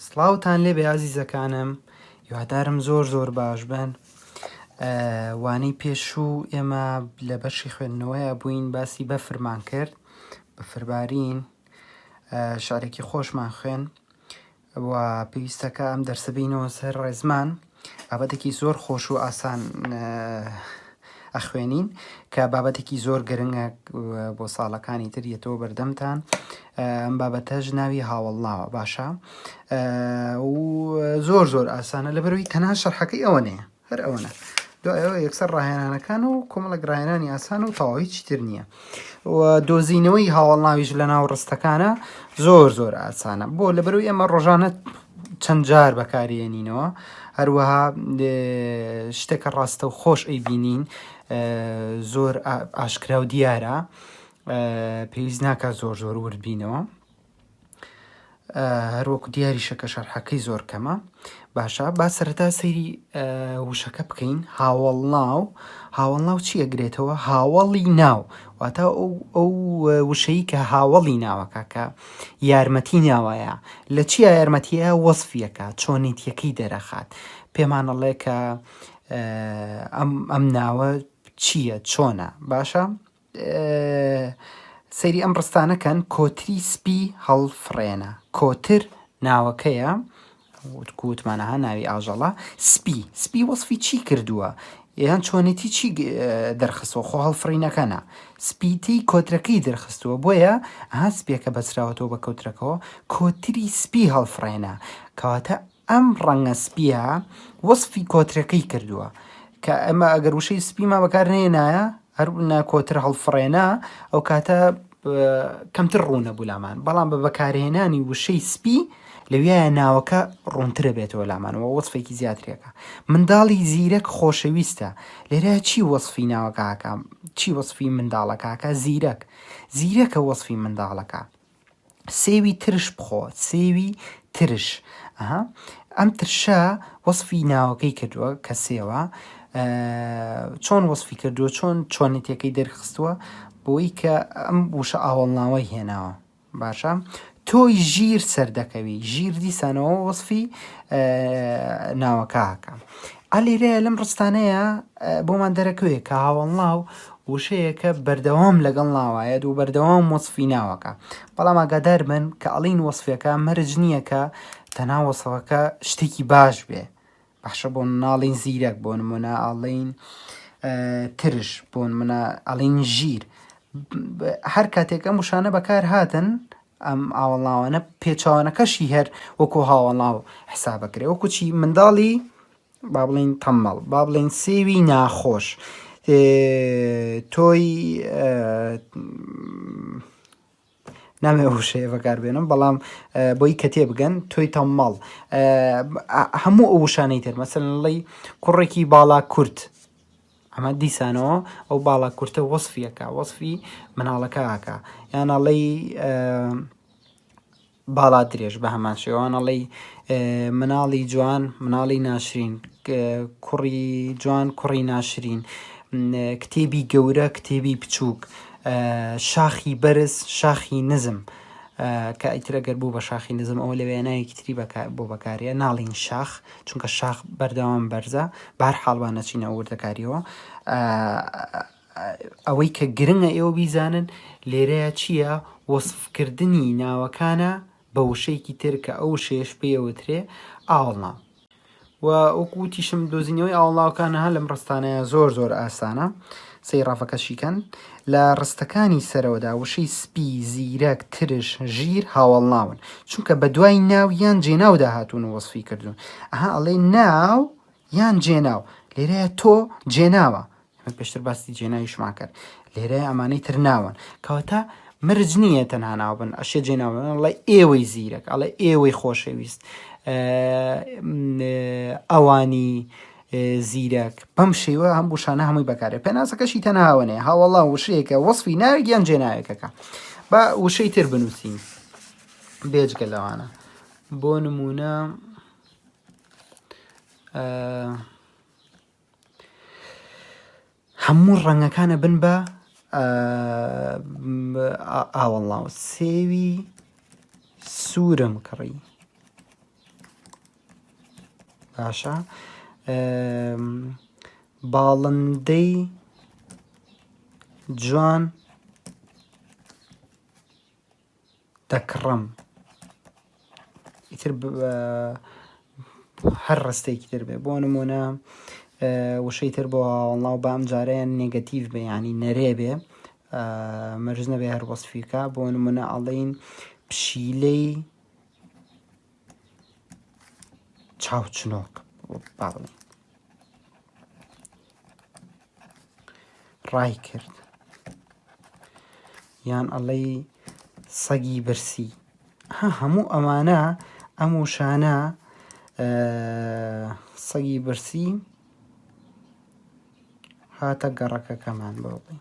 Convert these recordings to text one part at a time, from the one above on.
سڵاوتان لێ بەیازیزەکانم یوادارم زۆر زۆر باش بن وانەی پێشوو ئێمە لە بەشی خوێندنەوەیە بووین باسی بەفرمان کرد بەفربارین شارێکی خۆشمان خوێن وە پێویستە کە ئەم دەرسە بینەوە سەر ڕێزمان بابەتێکی زۆر خۆش و ئاسان ئەخوێنین کە بابەتێکی زۆر گرنگە بۆ ساڵەکانی تر یەتەوە بەردەمتان ئەم بابەتەش ناوی هاوڵناوە باشە زۆر زۆر ئاسانە لە بەروی تەنها شەرحەکەی ئەوە نەیە هەر ئەوەنە دوای ئەوە یەکسەر ڕاهێنانەکان و کۆمەڵک ڕاهێنانی ئاسان و تەواوی چتر نییە و دۆزینەوەی هاوڵناویش لە ناو ڕستەکانە زۆر زۆر ئاسانە بۆ لە بەروی ئێمە ڕۆژانە چەند جار بەکارێنینەوە هەروەها شتێکە ڕاستە و خۆش ئەی بینین زۆر ئاشکرا و دیارە پێویست ناکە زۆر زۆر وردبینەوە هەروەکو دیاریشە کە شەرحەکەی زۆر کەمە باشە با سەرەتا سەیری وشەکە بکەین هاوڵ ناو هاوڵ ناو چی ئەگرێتەوە هاوڵی ناو واتە ئەو وشەی کە هاوڵی ناوەکە کە یارمەتی ناوایە لە چی یارمەتیە وەصفیەکە چۆنیتیەکەی دەرەخات پێمانەڵێ کە ئەم ئەم ناوە چییە چۆنە باشە سەیری ئەم ڕستانە کەن کۆتری سپی هەڵفڕێنە کۆتر ناوەکەیە وتکوتمانەها ناوی ئاژەڵە سپی سپی وەصفی چی کردووە یان چۆنێتی چی دەرخستەوە خۆ هەڵفڕینەکەە سپیتی کۆترەکەی دەرخستووە بۆیە ها سپیەکە بەسراوەتەوە بە کۆترەکەەوە کۆتری سپی هەڵفڕێنە کەواتە ئەم ڕەنگە سپییە وەسفی کۆترەکەی کردووە کە ئەمە ئەگەر وشەی سپیمان بەکار نێنایە هەر ناکۆتر هەڵفڕێنا ئەو کاتە کەمتر ڕوونە بولامان بەڵام بە بەکارهێنانی وشەی سپی لەویە ناوەکە ڕوونترە بێتەوە لامانەوە وەسفێکی زیاترێکە منداڵی زیرەک خۆشەویستە لێرە چی وەسفی ناوەکەکە چی وەسفی منداڵەکەکە زیرەک زیرەکە وەسفی منداڵەکە سێوی ترش بخۆ سێوی ترش ئەها ئەم ترشە وەصفی ناوەکەی کردووە کە سێوە چۆن وەصفی کردووە چۆن چۆنێتەکەی دەرخستووە بۆی کە ئەم وشە ئاوەڵناوەی هێناوە باشە تۆی ژیر سەردەکەوی ژیر دیسانەوە وەصفی ناوەکەکە عەلی رێ لەم ڕستانەیە بۆمان دەرەکەوێ کە هاوەڵناو وشەیەکە بەردەوام لەگەڵ ناوایەت و بەردەوام وەصفی ناوەکە بەڵام ئاگادار بن کە ئەڵین وەصفەکە مەرج نییە کە تەنا وەصفەکە شتێکی باش بێ باشە بۆ ناڵین زیرەک بۆ نمونە ئاڵین ترش بۆن منە ئەڵین ژیر هەر کاتێک ئەم وشانە بەکار هاتن ئەم ئاوەڵناوانە پێچەوانەکەشی هەر وەکو هاوەڵناو حسابەکرێ وەکو چی منداڵی با بڵین تەمەڵ با بڵین سێوی ناخۆش تۆی نامێ وشەیە بەکار بێنم بەڵام بۆی کە تێ بگەن تۆی تەمەڵ هەموو ئەو وشانەی تر مەسەن ڵی کوڕێکی باڵا کورت ئەمە دیسانەوە ئەو باڵا کورتە وەسفیەکە وەسفی مناڵەکەکە یانەڵی باڵا درێژ بە هەمان شێوانەڵی مناڵی جوان مناڵی ناشرین کوڕی جوان کوڕی ناشرین کتێبی گەورە کتێبی بچووک شاخی بەرز شاخی نزم کە ئیترەگەر بوو بە شاخی نزم ئەوە لە وێناوی کتری بۆ بەکارە ناڵین شاخ چونکە شاخ بەردەوام بەرزە بارحاڵ با نەچینە وردەکاریەوە ئەوەی کە گرنگە ئێوە بیزانن لێرەیە چییە وەصفکردنی ناوەکانە بە وشەیەکی تر کە ئەو شێش پێوترێ ئاڵنا وەکوتیشم دۆزینەوەی ئاڵاوکانەها لەم ڕستانەیە زۆر زۆر ئاسانە سەیرافەکە شیکەن. لە ڕستەکانی سەرەوەدا وشەی سپی، زیرەک، ترش، ژیر هاوەڵناون، چونکە بە دوای ناو یان جێناودا هاتوون و وەسفی کردوون. ئەها ئەڵێ ناو یان جێناو، لێرەیە تۆ جێناوە. ئێمە پێشتر باسی جێناویشمان کرد. لێرەیە ئەمانەی تر ناون. کەواتە مرج نییە تەنها ناو بن، ئەشێ جێناو بن. ئەڵێ ئێوەی زیرەک، ئەڵێ ئێوەی خۆشەویست، ئەوانی زیرەک بەم شێوە هەم وشانە هەمووی بەکارێ پێناسەکەشی تەناوەنێ هاوەڵا وشەیەکە وەصفی ناوێک یان جێناوێکەکە بە وشەی تر بنووسین بێجگە لەوانە بۆ نمونە هەموو ڕەنگەکانە بن بە ئاوەڵاو سێوی سوورم کڕی باشە باڵندەی جوان دەکڕم ئیتر هەر ڕستێکی تر بێ بۆ نمونە وشەی تر بۆ ئەڵاو بام جارەیان نگەتیڤ بێ ینی نەرێ بێ مەرز نەبێ هەر وەصفیکە بۆ نمونە ئەڵین پشیلەی چاو چنۆک با بڵێن ڕای کرد یان ئەڵەی سەگی برسی ها هەموو ئەمانە ئەم وشانە سەگی برسی هاتە گەڕەکەکەمان بۆ بڵێن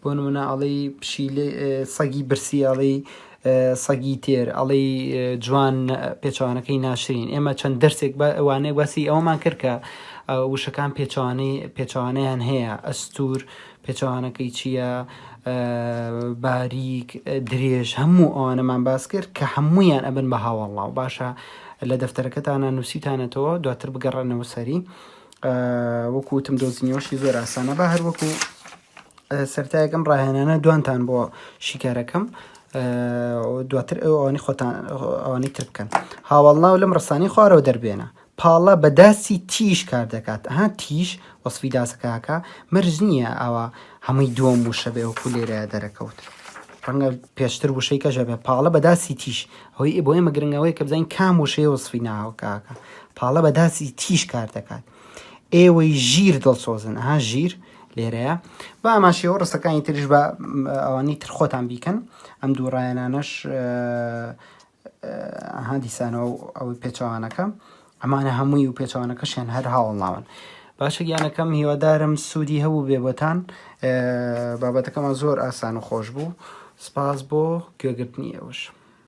بۆ نمونە ئەڵێی پشیلە سەگی برسی ئەڵێی سەگی تێر ئەڵێی جوان پێچوانەکەی ناشرین ئێمە چەند دەرسێک وانەیە باسی ئەومان کرد کە وشەکان پێچوانەی پێچوانیان هەیە ئەستور پێچوانەکەی چییە باریک درێژ هەموو ئەوانەمان باس کرد کە هەمویان ئەبن بە هاوەڵاو باشە لە دەفتەرەکەتانە نووسیتانەتەوە دواتر بگەڕێنەوە سەری وەکوتم دۆزینەوەشی زۆر ئاسانە بە هەروەکو سەرەتایەک ئەم ڕاهێنانە دوانتان بۆ شیکارەکەم دواتر ئەو ئەوانی خۆتان ئەوانی تر بکەن هاوڵناو لەم ڕسانی خوارەوە دەربێنە پاڵە بە داسی تیش کار دەکات ها تیش وەسفی داسەکەکە مەرج نییە ئەوە هەمووی دووەم وشە بێ وەکو لێرە دەرەکەوت ڕەنگە پێشتر وشەی کەژە بێ پاڵە بە داسی تیش ئەوەی بۆ ئێمە گرنگەوەی کە بزانین کام وشەیە وەسفی ناوکاکە پاڵە بە داسی تیش کار دەکات ئێوەی ژیر دڵسۆزن ها ژیر لێرەیە با ئاماشەوە ڕستەکانی ترش بە ئەوانی تر خۆتان بیکەن ئەم دوو ڕایەنانەش هەندیسانەوە ئەو پێچوانەکە ئەمانە هەمووی و پێچوانەکەشیان هەر هاوڵناون باشە گیانەکەم هیوادارم سوودی هەبوو بێبتان بابەتەکەمان زۆر ئاسان و خۆش بوو سپاس بۆ گوێگرتنی ئەوش.